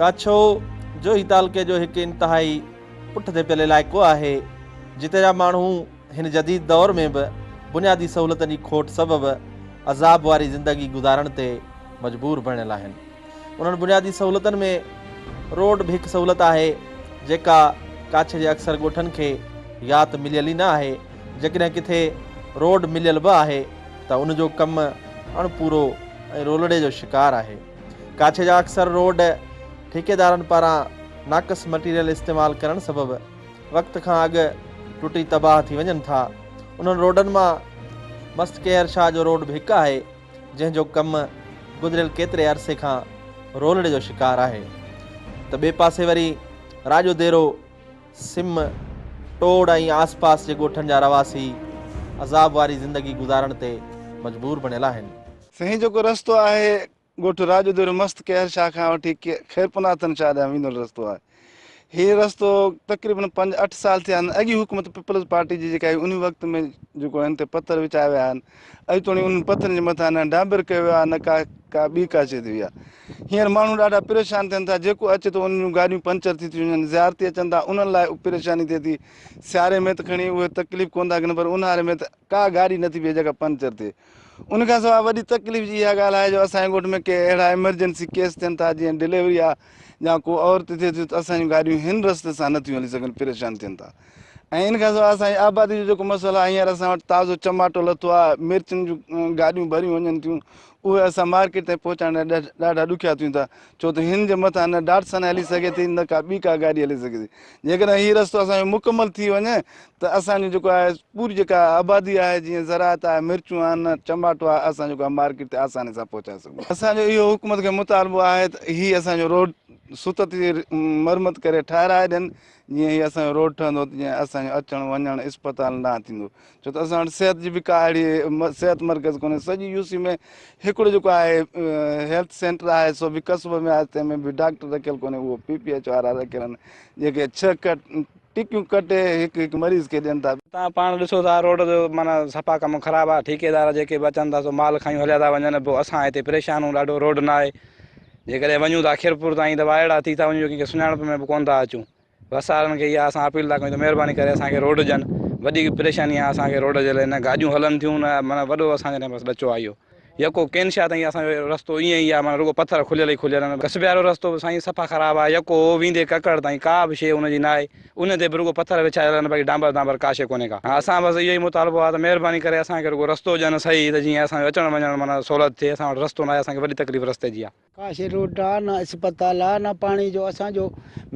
ڪاڇو، جوهي تعلقي جو هڪ انتهائي پٺتي پيل علائقو آهي، جتي جا ماڻهو هن جديد دور ۾ به بنيادي سهولتن جي کوٽ سبب عذاب واري زندگي گذارڻ تي مجبور بڻيل آهن. انهن بنيادي سهولتن ۾ روڊ به هڪ سهولت آهي، جيڪا ڪاڇي جي اڪثر ڳوٺن کي يا ته مليل ئي نه آهي، جيڪڏهن ڪٿي روڊ مليل به آهي ته ان جو ڪم اڻ پورو ۽ رولڙي جو شڪار آهي. ڪاڇي جا اڪثر روڊ ٺيڪيدارن پاران ناقص مٽيريل استعمال ڪرڻ سبب وقت کان اڳ ٽٽي تباهه ٿي وڃن ٿا. انهن روڊن مان مست ڪيهر شاهه جو روڊ به هڪ آهي جنهن جو ڪم گذريل ڪيتري عرصي کان رولڙي جو شڪار آهي ته ٻئي پاسي وري راڄو ديرو سم، ٽوڙ ۽ آس پاس جي ڳوٺن جا رهواسي عذاب واري زندگي گذارڻ تي مجبور بڻيل آهن. سائين جيڪو رستو آهي ڳوٺ راڄو ديرو مست قهر شاهه کان وٺي خيرپوناٿن شاهه ڏانهن ويندڙ رستو آهي. هي رستو تقريبن پنج اٺ سال ٿيا آهن اڳي حڪومت پيپلز پارٽي جي جيڪا هئي انهي وقت ۾ جيڪو هن تي پٿر وچايا ويا آهن اڄ توڻي انهن پٿرن جي مٿان نه ڊانبر ڪيو ويو آهي نه ڪا ڪا ٻي ڪا شي ٿي وئي آهي. هينئر ماڻهو ڏاڍا پريشان ٿين ٿا، جيڪو اچي ٿو انهن جون گاڏيون پنچر ٿي ٿيون وڃن، زيارتي اچن ٿا انهن لاء پريشاني ٿئي ٿي، سياري ۾ ته کڻي اهي تڪليف ڪونه ٿا گھنن پر اونهاري ۾ ته ڪا گاڏي نٿي بيهي جيڪا پنچر ٿئي. ان کان سواء وڏي تڪليف جي اها ڳالهه آهي جو اسان جي ڳوٺ ۾ ڪي اهڙا ايمرجنسي ڪيس ٿين ٿا جيئن ڊليوري آهي يا ڪو عورت ٿئي ٿي ته اسان جون گاڏيون هن رستي سان نٿيون هلي سگھن پريشان ٿين ٿا. ۽ ان کان سواء اسان جي آبادي جو جيڪو مسئلو آهي هينئر اسان وٽ تازو چماٽو لٿو آهي مرچن جون گاڏيون ڀريون وڃن ٿيون اهي اسان مارڪيٽ تائين پهچائڻ لاء ڏاڍا ڏکيا ٿيون ٿا ڇو ته هن جي مٿان نه ڊاٽسن هلي سگهي ٿي نه ڪا ٻي ڪا گاڏي هلي سگهي ٿي جيڪڏهن هي رستو اسان جو مڪمل ٿي وڃي ته اسان جو جيڪو آهي پوري جيڪا آبادي آهي جيئن زراعت آهي مرچون آهن چماٽو آهي اسان جيڪو آهي مارڪيٽ تي آساني سان پهچائي سگهون اسان جو اهو حڪومت کي مطالبو آهي ته هي اسان جو روڊ ست تي مرمت ڪري ٺهرائي ڏين جيئن ئي اسان جو روڊ ٺهندو ته جيئن اسان جو اچڻ وڃڻ اسپتالن ڏانهن ٿيندو ڇو ته اسان وٽ صحت جي به ڪا اهڙي صحت مرڪز ڪونهي سڄي يو سي ۾ هڪڙو جيڪو آهي هيلٿ سينٽر آهي سو به قصبي ۾ آهي تنهن ۾ به ڊاڪٽر رکيل ڪونهي اهو پي پي ايچ وارا رکيل آهن جيڪي ڇهه ڪٽ ٽڪيون ڪٽي هڪ هڪ مريض کي ڏين ٿا تان پاڻ ڏسو ٿا روڊ جو معنيٰ صفا ڪم خراب آهي ٺيڪيدار جيڪي به اچن ٿا سو مال کڻي هليا ٿا وڃن پوء اسان هتي پريشان آهيون ڏاڍو روڊ نه آهي جيڪڏهن وڃون ته خيرپور تائين ته وائڙا ٿي ٿا وڃون جو ڪنهن کي سڃاڻپ ۾ به ڪونه ٿا اچون. بس وارن کي اها اسان اپيل ٿا ڪيون ته مهرباني ڪري اسان کي روڊ ڏين. وڏي پريشاني آهي اسان کي روڊ جي لاء نه گاڏيون هلن ٿيون نه معنيٰ وڏو اسان جي لاء بس ڏچو آهي اهو. يڪو ڪين شاهه تائين اسان جو رستو ائين ئي آهي معنيٰ رڳو پٿر کليل ئي کليل آهن. ڪسبيارو رستو به سائين صفا خراب آهي. يڪو هو ويندي ڪڪڙ تائين ڪا به شيء ان جي ناهي. ان تي به رڳو پٿر وڇايل آهن باقي ڊانبر دانبر ڪا شيء ڪونهي ڪا. اسان بس اهو ئي مطالبو آهي ته مهرباني ڪري اسان کي رڳو رستو ڏين صحيح ته جيئن اسان جو اچڻ وڃڻ معنيٰ سهولت ٿئي اسان وٽ رستو ناهي اسان کي وڏي تڪليف رستي جي آهي. ڪا شيء روڊ آهي نه اسپتال آهي نه پاڻي جو اسان جو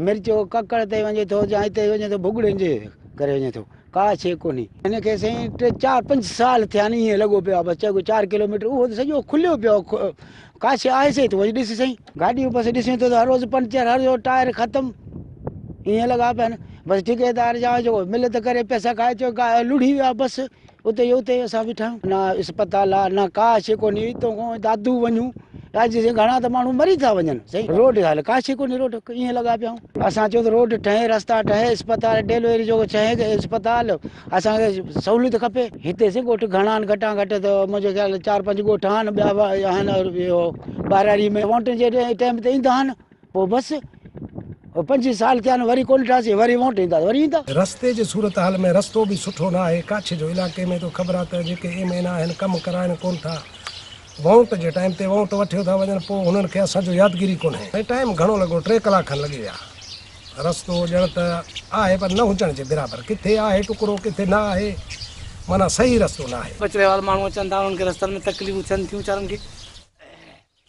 مرچ ڪڪڙ تي وڃي ٿو يا هتي وڃي ٿو ڀڳڙين جي ڪري وڃي ٿو ڪا شيء ڪونهي. هن کي سائين ٽي چار پنج سال ٿيا آهن ائين لڳو پيو آهي بس چئبو چار ڪلوميٽر اهو ته سڄو کليو پيو آهي ڪا شيء آهي سهي تون وڃي ڏس سهي. گاڏيء جي پاسي ڏسيون ته هر روز پنچر هر روز ٽائر ختم ائين لڳا پيا آهن بس ٺڪيدار جا جيڪو مل ته ڪري پئسا کائي چو لڙهي ويا بس اتي جو اتي اسان بيٺا آهيون نه اسپتال آهي نه ڪا شيء ڪونهي اتو کان دادو وڃون راجي سين گهڻا ته ماڻهو مري ٿا وڃن سهي روڊ حال ڪا شيء ڪونهي روڊ ائين لڳا پيا آهيون اسان چيو ته روڊ ٺهي رستا ٺهي اسپتال ڊيلوري جو ڇهين اسپتال اسان کي سهوليت کپي هتي سين ڳوٺ گهڻا آهن گهٽان گهٽ ته منهنجي خيال ۾ چار پنج ڳوٺ آهن ٻيا به آهن اور اهو ٻهراڙي ۾ وونٽن جي ٽائيم تي ايندا آهن پوء بس او پنجين سال ٿيا آهن وري ڪونه ٺاهيسين وري وونٽ ايندا وري ايندا. رستي جي صورتحال ۾ رستو به سٺو نه آهي ڪاڇ جو علائقي ۾ ته خبر آهي ته جيڪي ايم اين آهن ڪم ڪرائين ڪونه ٿا وونٽ جي ٽائيم تي وونٽ وٺيو ٿا وڃن پوء هنن کي اسان جو يادگيري ڪونهي ۽ ٽائيم گهڻو لڳو ٽي ڪلاڪ کن لڳي ويا. رستو ڄڻ ته آهي پر نه هجڻ جي برابر ڪٿي آهي ٽڪرو ڪٿي نه آهي معنيٰ صحيح رستو نه آهي. ٻچڙي وارا ماڻهو اچن ٿا انهن کي رستن ۾ تڪليفون ٿين ٿيون ويچارن کي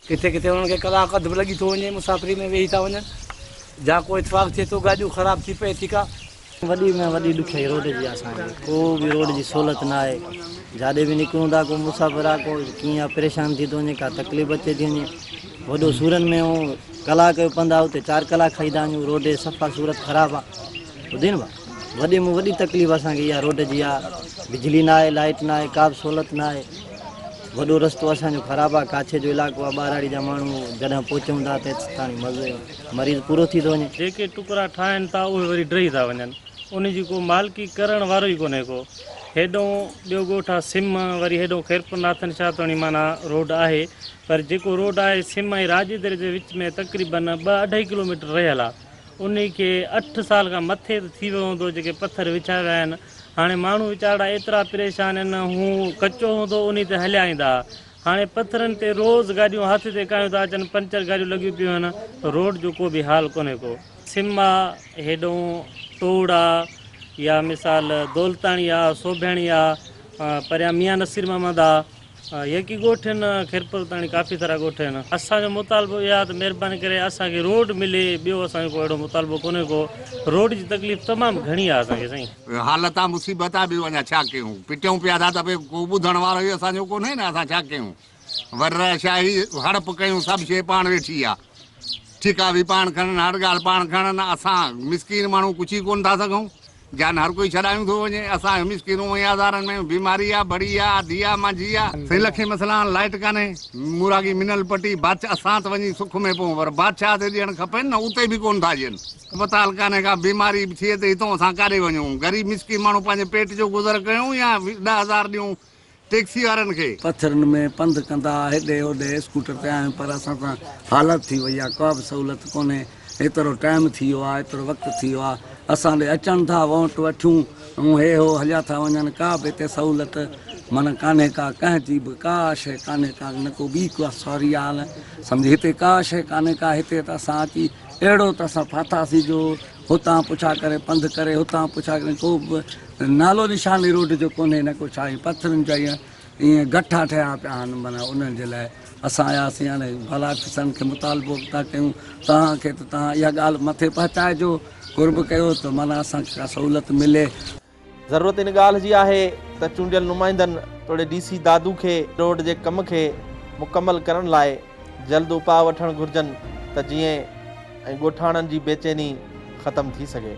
ڪٿي ڪٿي انهن کي ڪلاڪ اڌ به لڳي ٿو وڃي مسافري ۾ ويهي ٿا وڃن جا ڪو اتفاق ٿئي ٿو گاڏيون خراب ٿي پئي ٿي ڪا وڏي ۾ وڏي ڏکيائي روڊ جي آهي اسان کي ڪو به روڊ جي سهولت نه آهي جاڏي به نڪرون ٿا ڪو مسافر آ ڪو ڪيئن آ پريشان ٿي ٿو وڃي ڪا تڪليف اچي ٿي وڃي وڏو سورن ۾ ڪلاڪ جو پنڌ آ اتي چار ڪلاڪ کائي ٿا وڃون روڊ جي صفا صورت خراب آ ٻڌين وا وڏي مون وڏي تڪليف اسان کي اها روڊ جي آ بجلي نه آهي لائٽ نه آهي ڪا به سهولت نه آهي وڏو رستو اسان جو خراب آ ڪاڇي جو علائقو آ ٻاراڙي جا ماڻهو جڏهن پهچون ٿا ته تاڻي مزي مريض پورو ٿي ٿو وڃي. جيڪي ٽڪرا ٺاهن ٿا اهي وري ڊهي ٿا وڃن ان جي ڪو مالڪي ڪرڻ وارو ئي ڪونهي ڪو هيڏهون ٻيو ڳوٺ آ سم وري هيڏهون خيرپور ناٿن شاهه توڻي معنيٰ روڊ آهي پر جيڪو روڊ آهي سم ۽ راڄيدري جي وچ ۾ تقريباً ٻه اڍائي ڪلوميٽر رهيل آ انهي کي اٺ سال کان مٿي ته ٿي ويو هوندو جيڪي پٿر وڇايا ويا آهن هاڻي ماڻهو ويچارڙا ايترا پريشان ان هو ڪچو هوندو انهي تي هليا ايندا ها هاڻي پٿرن تي روز گاڏيون هٿ تي ڪايون ٿا اچن پنچر گاڏيون لڳيون پيون هن روڊ جو ڪو به حال ڪونهي ڪو سم آ هيڏئون ٽوڙ آ يا مثال دولتاڻي آ سوڀياڻي آ پريان ميان نصير محمد آ. يڪي ڳوٺ هن خيرپور تاڻي ڪافي سارا ڳوٺ هن اسان جو مطالبو اهي آ ته مهرباني ڪري اسان کي روڊ ملي ٻيو اسان جو ڪو اهڙو مطالبو ڪونهي ڪو روڊ جي تڪليف تمام گهڻي آ اسان کي سائين. حالت آ مصيبت آ ٻيو اڃا ڇا ڪيون پٽيون پيا ٿا ته ڀي ڪو ٻڌڻ وارو ئي اسان جو ڪونهي نه اسان ڇا ڪيون ور شاهي هڙپ ڪيون سڀ شي پاڻ ويٺي آ ٺيڪا ڀي پاڻ کڻن هر ڳالهه پاڻ کڻن اسان مسڪين ماڻهو ڪڇ ئي ڪون ٿا سگهون جان هر ڪوئي ڇڏايون ٿو وڃي اسان هي مسڪينون ۽ آزارن ۾ بيماري آ بڙي آ آڌي آ مانجهي آ سين لکين مسئلان لائٽ ڪانهي موراڳي منل پٽي بادشاھ اسان ته وڃي سک ۾ پون پر بادشاھ تي ڏيڻ کپين نه اتي به ڪون ٿا ڏين اسپتال ڪانهي ڪا بيماري به ٿئي ته هتئون اسان ڪاڏي وڃون غريب مسڪين ماڻهو پنهنجي پيٽ جو گذر ڪيون يا ڏھ هزار ڏيون ٽيڪسي وارن کي. پٿرن ۾ پنڌ ڪندا هيڏي هوڏي اسڪوٽر تي آهيون پر اسان سان حالت ٿي وئي آهي ڪابه سهولت ڪونهي ايترو ٽائيم ٿي ويو آهي ايترو وقت ٿي ويو آهي اسان ڏي اچن ٿا وونٽ وٺيون ۽ هي هو هليا ٿا وڃن ڪابه هتي سهولت معنيٰ ڪانهي ڪا ڪنهن جي به ڪا شيء ڪانهي ڪا نه ڪو ٻي ڪا سوري آهي نه سمجهي هتي ڪا شيء ڪانهي ڪا هتي ته اسان اچي اهڙو ته اسان ڦاٿاسين جو هتان پڇا ڪري پنڌ ڪري هتان پڇا ڪري ڪو به نالو نشان ئي روڊ جو ڪونهي نه ڪو ڇا پٿرن جا ايئن ايئن گٺا ٺهيا پيا آهن معنيٰ انهن جي لاء اسان آياسين هاڻي ڀلا ڪسن کي مطالبو به ٿا ڪيون توهان کي ته توهان اها ڳالهه مٿي پهچائجو قرب ڪيو ته معنيٰ اسان کي ڪا سهولت ملي. ضرورت ان ڳالهه جي آهي ته چونڊيل نمائندن توڙي ڊي سي دادو کي روڊ جي ڪم کي مڪمل ڪرڻ لاء جلد اپاء وٺڻ گهرجن ته جيئن ۽ ڳوٺاڻن جي بيچيني ختم ٿي سگهي.